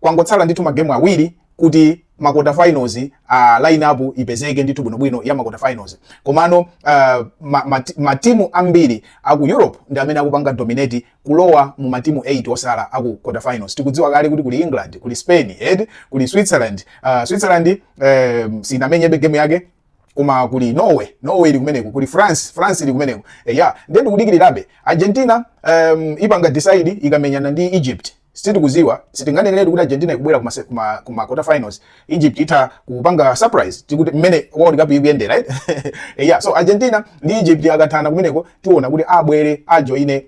Kwangotsala ndithu magemu awiri kuti makota finals a uh, line up ipezeke ndithu bwino bwino ya makota finals komano uh, matimu ma, ma ambiri aku Europe ndi amene akupanga dominate kulowa mu matimu 8 osala aku kota finals tikudziwa kale kuti kuli England kuli Spain ed kuli Switzerland uh, Switzerland um, sinamenyebe game yake koma kuli Norway Norway ili kumeneko kuli France France ili kumeneko eya eh, yeah. tikudikirirabe Argentina um, ipanga decide ikamenyana ndi Egypt Sitikuziwa, sitinganeneretu kuti Argentina ikubwera kuma kuma kuma quarter finals. Egypt itha kupanga surprise ndithu mmene World Cup ikuyenderamu? Eh, yeah, so Argentina ndi Egypt akathana kumeneko tiona kuti abwere ajoine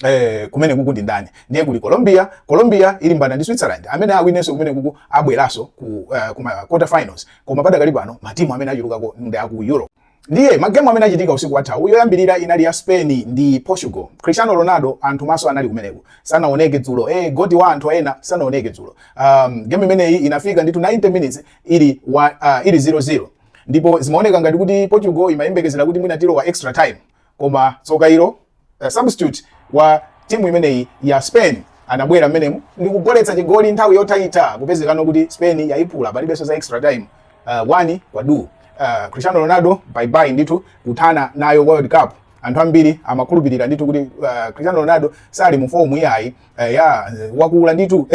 eh kumene kuku ndi ndani ndiye kuli Colombia Colombia ilimbana ndi Switzerland amene awinenso kumene kuku abweraso ku uh, kuma quarter finals koma padakali pano matimu amene achulukako ndi aku Europe Ndiye magemu amene achitika usiku wathawu, yoyambirira inali ya Spain ndi Portugal. Cristiano Ronaldo anthu maso anali kumeneko, sanaoneke dzulo. Eh, goti wa anthu ena sanaoneke dzulo. Um, game imeneyi inafika ndithu 90 minutes ili wa, uh, ili 0-0 ndipo zimaoneka ngati kuti Portugal imayembekezera kuti mwina tilowa extra time koma tsoka ilo uh, substitute wa timu imeneyi ya spain anabwera mmenemu ndi kugoletsa chigoli nthawi yothaitha kupezekano kuti spain yayiphula palibenso za extra time uh, wani kwa duu uh, cristiano ronaldo baibai ndithu kuthana nayo world cup anthu ambiri amakhulupirira ndithu kuti uh, cristiano ronaldo sali mu fomu iyayi uh, ya wakula ndithu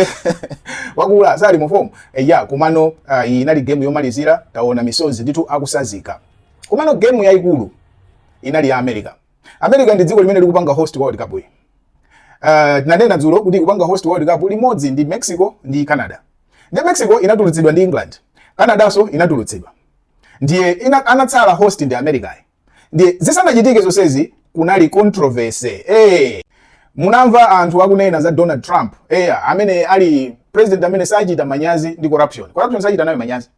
wakula sali mu fomu uh, ya komano uh, iyi inali game yomalizira taona misozi ndithu akutsanzika Komano game yaikulu inali ya America. America ndi dziko limene likupanga host World Cup iyi. Uh, tinanena dzulo kuti ikupanga host World Cup limodzi ndi Mexico ndi Canada. Ndiye Mexico inatulutsidwa ndi England. Canadanso inatulutsidwa. Ndiye ina, anatsala host ndi America. Ndiye zisanachitike zonsezi kunali controversy. Eh, hey, munamva anthu akunena za Donald Trump. Eh, hey, amene ali president amene sachita manyazi ndi corruption. Corruption sachita nayo manyazi.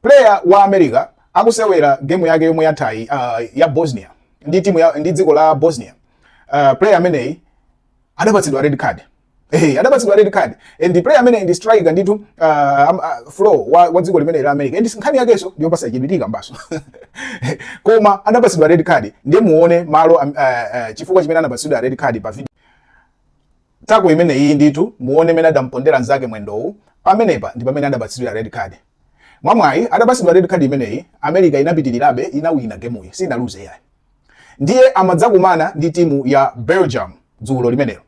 Player wa America akusewera game yake yomwe yathayi uh, ya Bosnia ndi timu ya ndi dziko la Bosnia uh, player ameneyi adapatsidwa red card Hey, eh, adapatsidwa red card and player ameneyi ndi striker ndithu uh, um, uh, flow wa, wa dziko limeneli la America and nkhani yakenso ndiyopatsa chidwi tikambanso koma adapatsidwa red card ndiye muone malo um, uh, uh, chifukwa chimene anapatsidwa red card pa video Tackle imene iyi ndithu muone mene adampondera nzake mwendowu pamenepa ndipamene adapatsidwira red card. Mwamwayi atapatsidwa red card imeneyi America inapitilirabe inawina gemuyi sinaluze yayi. Ndiye amadzakumana ndi timu ya Belgium dzulo limenelo.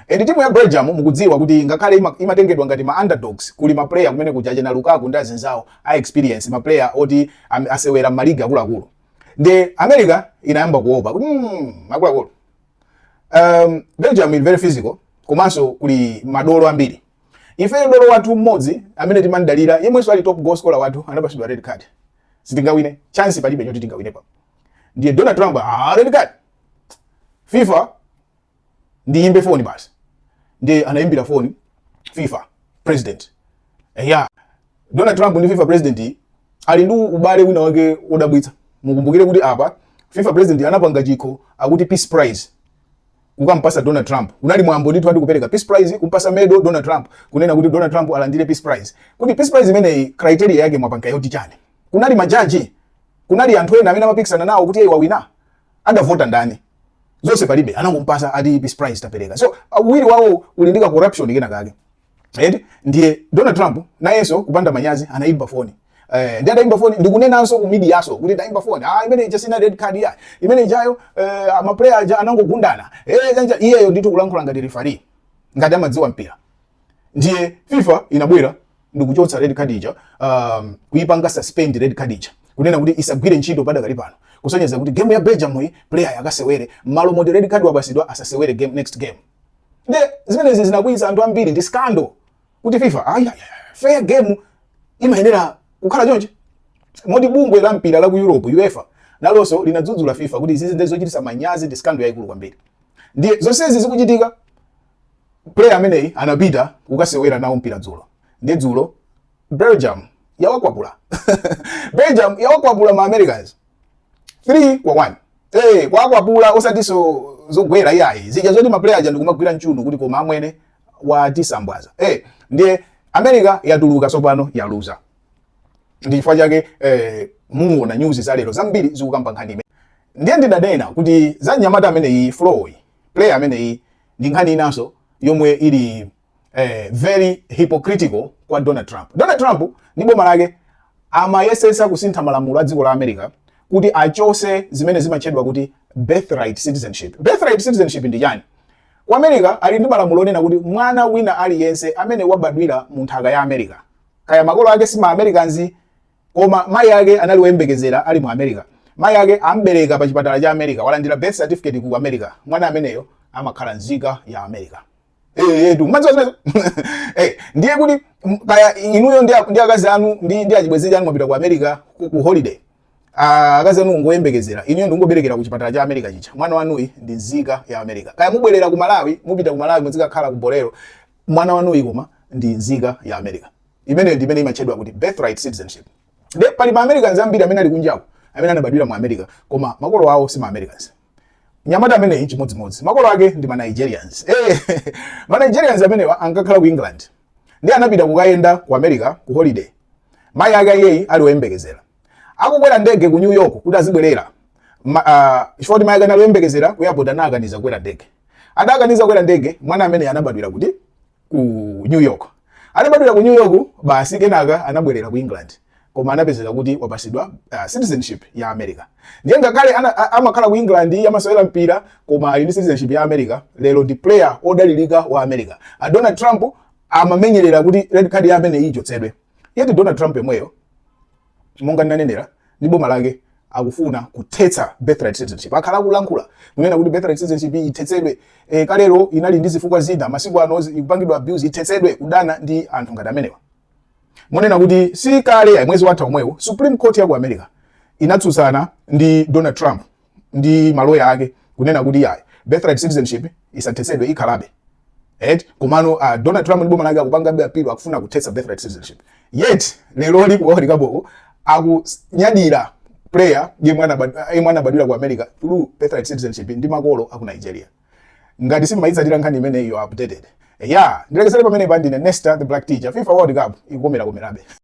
And timu ya Belgium mukudziwa kuti ngakhale ima, imatengedwa ngati ma underdogs kuli ma player kumene kuja achena Lukaku ndi anzawo a experience ma player oti amasewera ma league akuluakulu. Ndiye America inayamba kuopa kuti mm, akuluakulu um, belgium ili very physical komanso kuli madolo ambiri ifeyo dolo wathu mmodzi amene timamdalira yemwenso ali top goal scorer wathu anapasidwa red card sitingawine chance palibe choti tingawine pa ndiye donald trump ah, red card fifa ndiyimbe foni basi ndiye anayimbira foni fifa president eya Donald Trump ndi FIFA president iyi ali ndi ubale wina wake wodabwitsa. Mukumbukire kuti apa FIFA president anapanga chikho akuti Peace Prize kumupasa Donald Trump. Kunali mwambo ndithu ati kupereka Peace Prize kumpasa medo Donald Trump kunena kuti Donald Trump alandire Peace Prize. Kuti Peace Prize imeneyi criteria yake mwapanga yoti chani? Kunali majaji, kunali anthu ena amene amapikisana nawo kuti iye wawina adavota ndani? Zonse palibe anangompasa ati Peace Prize tapereka. So awiriwa ali ndi ka corruption kena kake. eti ndiye donald trump nayenso kupanda manyazi anayimba foni Eh, ndi adayimba foni ndikunenanso ku media-so kuti ndayimba foni ah, imene ija sinali red card ya imene ijayo eh, maplayer aja anangogundana eh, chanja iyeyo ndithu kulankhula ngati referee ngati amadziwa mpira ndiye fifa inabwera ndikuchotsa red card ija um, kuipanga suspend red card ija kunena kuti isagwire ntchito padakali pano kusonyeza kuti game ya belgium iyi player akasewere mmalo moti red card wapasidwa asasewere next game Ndiye zimenezi zinakwiyitsa anthu ambiri ndi scandal kuti FIFA ayi fair game simayenera kukhala choncho. Moti bungwe la mpira la ku Europe UEFA nalonso linadzudzula FIFA kuti izizi ndi zochititsa manyazi ndi scandal yaikulu kwambiri. Ndiye zonsezi zikuchitika player ameneyi anapita kukasewera nawo mpira dzulo. Nde dzulo Belgium yawakwapula. Belgium yawakwapula ma Americans. 3 kwa 1 eh kuwakwapula osatiso zogwera iyayi zija zoti maplayer aja ndikumagwira mchuno kuti koma amwene watisambwaza eh ndiye america yatuluka tsopano yaluza ndi chifukwa chake eh, muona news za lero zambiri zikukamba nkhani imene ndiye ndidanena kuti za mnyamata ameneyi floy player ameneyi ndi nkhani inaso yomwe ili eh, very hypocritical kwa Donald Trump. Donald Trump ndi boma lake amayesesa kusintha malamulo a dziko la America kuti achose zimene zimatchedwa kuti birthright citizenship. Birthright citizenship ndi chani? Kwa America ali ndi malamulo onena kuti mwana wina aliyense amene wabadwira mu nthaka ya America kaya makolo ake si ma Americans koma mai ake anali woyembekezera ali mu America. Mai ake ambereka pa chipatala cha America, walandira birth certificate ku America. Mwana ameneyo amakhala nzika ya America. Eh, eh, tu. Mwadziwa zimene- Eh, ndiye kuti m- kaya inuyo ndi a- ndi akazi anu ndi ndi achibwenzi anu mwapita ku america ku, ku holiday Ah, akazi anu ngoyembekezera inuyo ndikuberekera ku chipatala cha america chija mwana wanuyi ndi nzika ya america kaya mubwerera ku malawi mupita ku malawi muzikakhala ku bolero mwana wanuyi koma ndi nzika ya america imeneyo ndi imene imatchedwa kuti birthright citizenship nde pali ma americans ambiri amene ali kunjako amene anabadwira mu america koma makolo awo si ma americans nyamata ameneyi chimodzimodzi makolo ake ndi ma Nigerian eh, ma Nigerian amenewa ankakhala ku england ndi anapita kukayenda ku america ku holiday mayi ake ayeyi ali oyembekezera akukwera ndege ku new york kuti azibwerera Ma- ah, chifukwa kuti mayi ake anali oyembekezera ku airport anawakaniza kukwera ndege adawakaniza kukwera ndege mwana ameneyi anabadwira kuti ku new york atabadwira ku new york basi kenaka anabwerera ku england koma anapezeka kuti wapasidwa uh, citizenship ya america ndiye ngakhale ana- a- amakhala ku england iye amasewera mpira koma ali ndi citizenship ya america lero ndi player odalirika wa america a donald trump amamenyerera kuti red card ya ameneyi ichotsedwe yet donald trump yemweyo monga ndinanenera ndi boma lake akufuna kuthetsa birthright citizenship akhala akulankhula kunena kuti birthright citizenship ithetsedwe e, kalero inali ndi zifukwa zina masiku ano zi- ikupangidwa abuse ithetsedwe kudana ndi anthu ngati amenewa moti kunena kuti si kale mwezi watha omwewo supreme court ya ku america inatsutsana ndi donald trump ndi maloya ake kunena kuti yayi birthright citizenship isathetsedwe ikhalabe et komano uh, Donald Trump ndi boma lake akupangabe apilo akufuna kuthetsa birthright citizenship yet lero pa World Cup akunyadira player yemwe anabad- yemwe anabadwira ku America through birthright citizenship ndi makolo aku Nigeria ngati simumayitsatira nkhani imeneyo updated ya ndilekezere pamenepa ndine Nesta the Black Teacher FIFA World Cup ikukomera komerabe